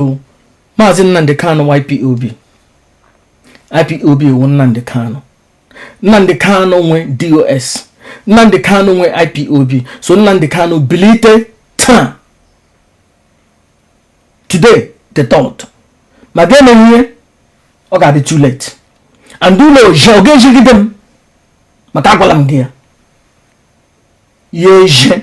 bụ maazị Nnamdi Kanu wụ IPOB IPOB wụ Nnamdi Kanu Nnamdi Kanu nwe DOS Nnamdi Kanu nwe IPOB so Nnamdi Kanu bilite taa today the thought ma ga-eme ihe ọ ga-adị too late and ụlọ oje ọ ga-ejigide m maka agwala m gị ya ya eje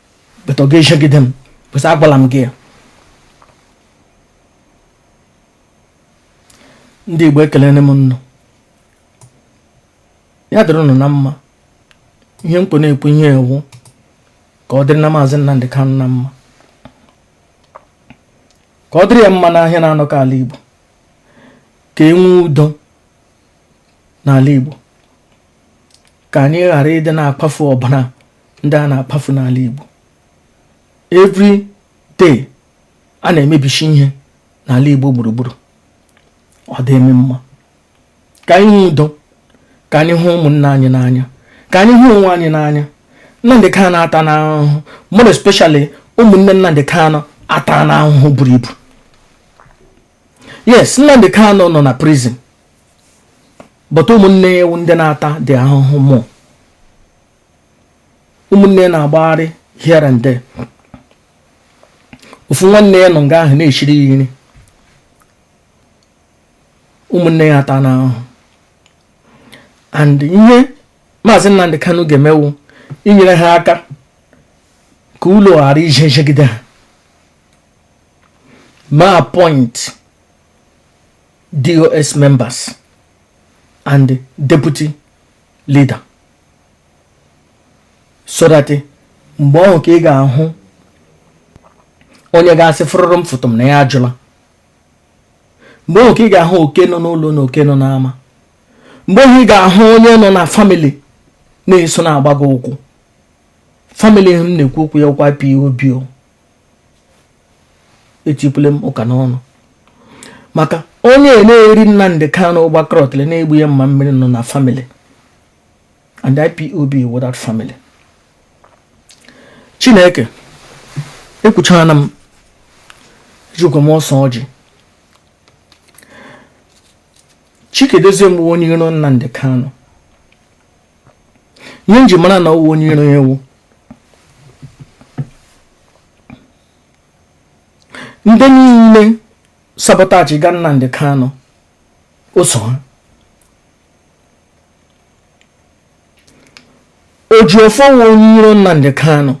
but ọ ga-ejegide m because agwala m gị ya ndị Igbo ekelene m nnụ ya dịrị ụnụ na mma ihe m kpọ na-ekwu ihe a wụ ka ọ dịrị na maazị Nnamdị Kanụ na mma ka ọ dịrị ya mma n'ahịa na-anọkọ ala Igbo ka e nwee udo n'ala Igbo ka anyị ghara ịdị na-akpafu ọbara ndị a na-akpafu n'ala Igbo every day a na-emebishi ihe n'ala Igbo gburugburu ọ dị ama mma ka anyị hụ udo ka anyị hụ ụmụnna anyị n'anya ka anyị hụ onwe anyị n'anya Nnamdị Kanu atana ahụhụ more especially ụmụnne Nnamdị Kanu atana ahụhụ buru ibu yes Nnamdị Kanu nọ na prison but ụmụnne ya wụ ndị na-atadị ahụhụ more ụmụnne na-agbagharị here and there ofu nwanne ya nọ nga ahụ na-eshiri ya nri ụmụnne ya atana ahụhụ and ihe maazị Nnamdi Kanu ga-eme wụ inyere ha aka ka ụlọ ghara ije jegide ha ma appoint DOS members and deputy leader so that mgbe ọhụ ka ị ga-ahụ onye ga-asị fụrụrụ m fụtụ m na ya ajụla mgbe ọhụ ka ị ga-ahụ oke nọ n'ụlọ na oke nọ n'ama mgbe ọhụ ị ga-ahụ onye nọ na family na-eso na-agba gị ụkwụ family m na-ekwu okwu ya wụkwa IPOB etipụle m ụka n'ọnụ maka onye na-eri Nnamdi Kanu ụgbakọrọtịrị na-egbu ya mma mmiri nọ na family and IPOB wụ that family Chineke ekwuchana m ejikwa m ọsọ ọjị Chika Edoziem wụ onye iro Nnamdi Kanu ihe m ji mara na ọ wụ onye iro ya wụ ndị niile sabotage ga Nnamdi Kanu o so ha Ejiofor wụ onye iro Nnamdi Kanu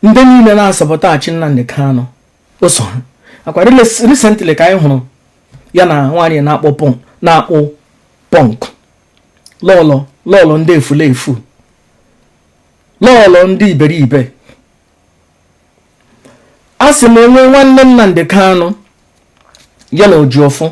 ndị niile na-asabotage Nnamdi Kanu o so ha ọ kwa recently ka anyị hụrụ ya na nwaanyị na-akpọ pọn na-akpọ pọnk lọlọ lọlọ ndị efulefu lọlọ ndị iberibe a sị m o nwee nwanne Nnamdi Kanu ya na Ejiofor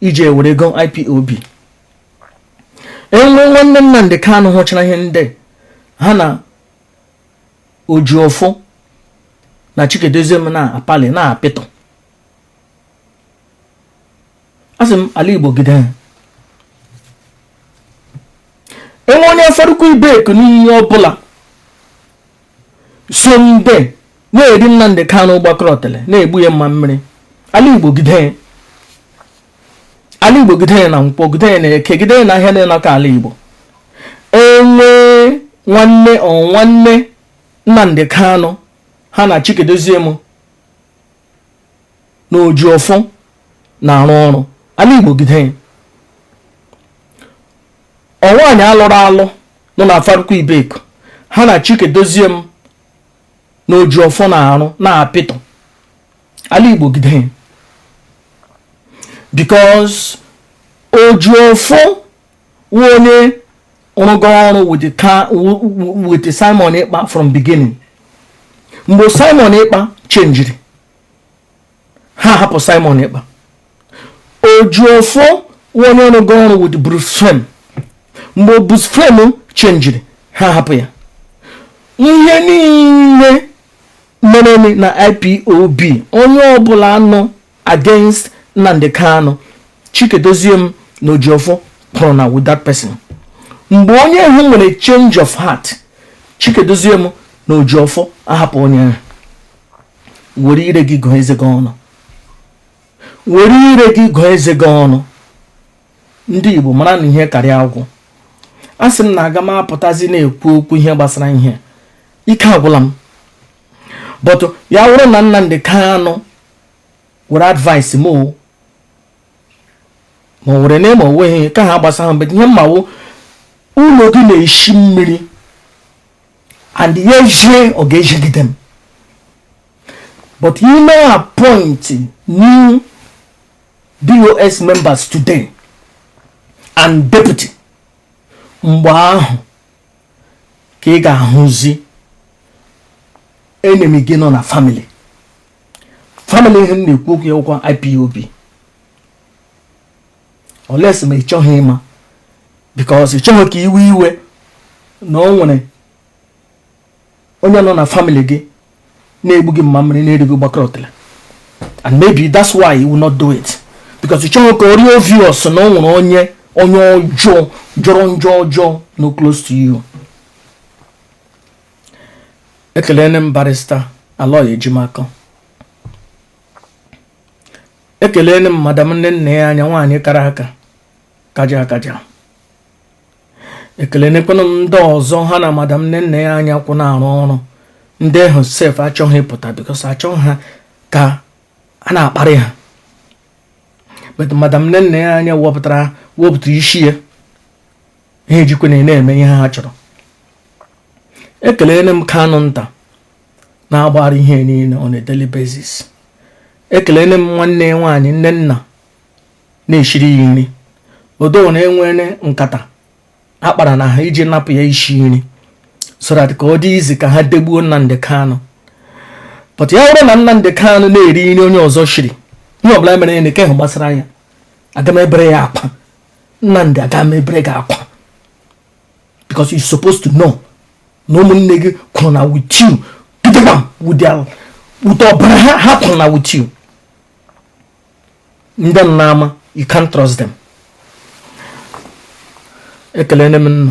iji ewere ego IPOB e nwee nwanne Nnamdi Kanu hụchara ihe ndị ha na Ejiofor na Chika Edoziem na-apali n'apịtọ a sị m ala Igbo gide ha e nwee onye Afaraukwu Ibeku na onye ọbụla so ndị na-eri Nnamdi Kanu gbakọrọ ọtele na-egbu ya mma mmiri ala Igbo gide ala Igbo gide na nkwọ gide na eke gide na ahịa na ịnọkọ ala Igbo e nwee nwanne ọ nwanne Nnamdi Kanu ha na Chika Edoziem na Ejiofor na-arụ ọrụ ala Igbo gide ya ọ nwaanyị a lụrụ alụ nọ na Afaraukwu Ibeku ha na Chika Edoziem na Ejiofor na-arụ n'apịtọ ala Igbo gide ya because Ejiofor onye rụgo ọrụ with ka with Simon Ekpa from beginning mgbe Simon Ekpa chenjiri ha hapụ Simon Ekpa Ejiofor onye rụgo ọrụ with Bruce Fein mgbe Bruce Fein chenjiri ha hapụ ya ihe niile mere na IPOB onye ọbụla nọ against Nnamdi Kanu Chika Edoziem na Ejiofor kwụrụ na with that person mgbe onye ahụ nwere change of heart Chika Edoziem na Ejiofor ahapụ onye ahụ were ire gị gụọ eze gị ọnụ were ire gị gụọ eze gị ọnụ ndị Igbo mara na ihe karịa agwụ a sị m na aga m apụtazi na-ekwu okwu ihe gbasara ihe ike agwụla m but ya wụrụ na Nnamdi Kanu were advice m o ma ọ were na ma o nweghị ka ha gbasara mgbe ihe m ma wụ ụlọ gị na-eshi mmiri and ya ejie ọ ga-ejigide m but ị mee appoint new DOS members today and deputy mgbe ahụ ka ị ga-ahụzi enemy gị nọ na family family ihe m na-ekwu okwu ya ụkwa IPOB unless ma ị chọghị ịma because ị chọghị ka i wee iwe na o nwere onye nọ na family gị na-egbu gị mma mmiri na-eri gị gbakọrọ otele and maybe that's why you will not do it because ị chọghị ka ọ rị obvious na o nwere onye onye ọjọọ jọrọ njọ ọjọọ nọ close to you ekelene m barrister Aloy Ejimakor ekelene m madam Nnennaya Anya nwaanyị kara aka kaja akaja ekelenekwanụ m ndị ọzọ ha na madam Nnennaya Anya kwụ na-arụ ọrụ ndị ahụ sef achọghị ịpụta because achọghị ha ka a na-akparị ha but madam Nnennaya Anya wepụtara isi ya ha ejikwanụ na-eme ihe ha chọrọ ekelene m Kanunta na-agbara ihe niile on a daily basis ekelene m nwanne nwaanyị Nnenna na-eshiri ya nri although na e nwere nkata a kpara na ha iji napụ ya isi nri so that ka ọ dị easy ka ha degbuo Nnamdi Kanu but ya bụrụ na Nnamdi Kanu na-eri nri onye ọzọ shiri ihe ọbụla mere nke ahụ gbasara ya aga m ebere ya akwa Nnamdi aga m ebere gị akwa because you supposed to know na ụmụnne gị kwụrụ na with you gidigba with their with ọbara ha ha kwụrụ na with you ndị nnama you can't trust them ekelene m nnụ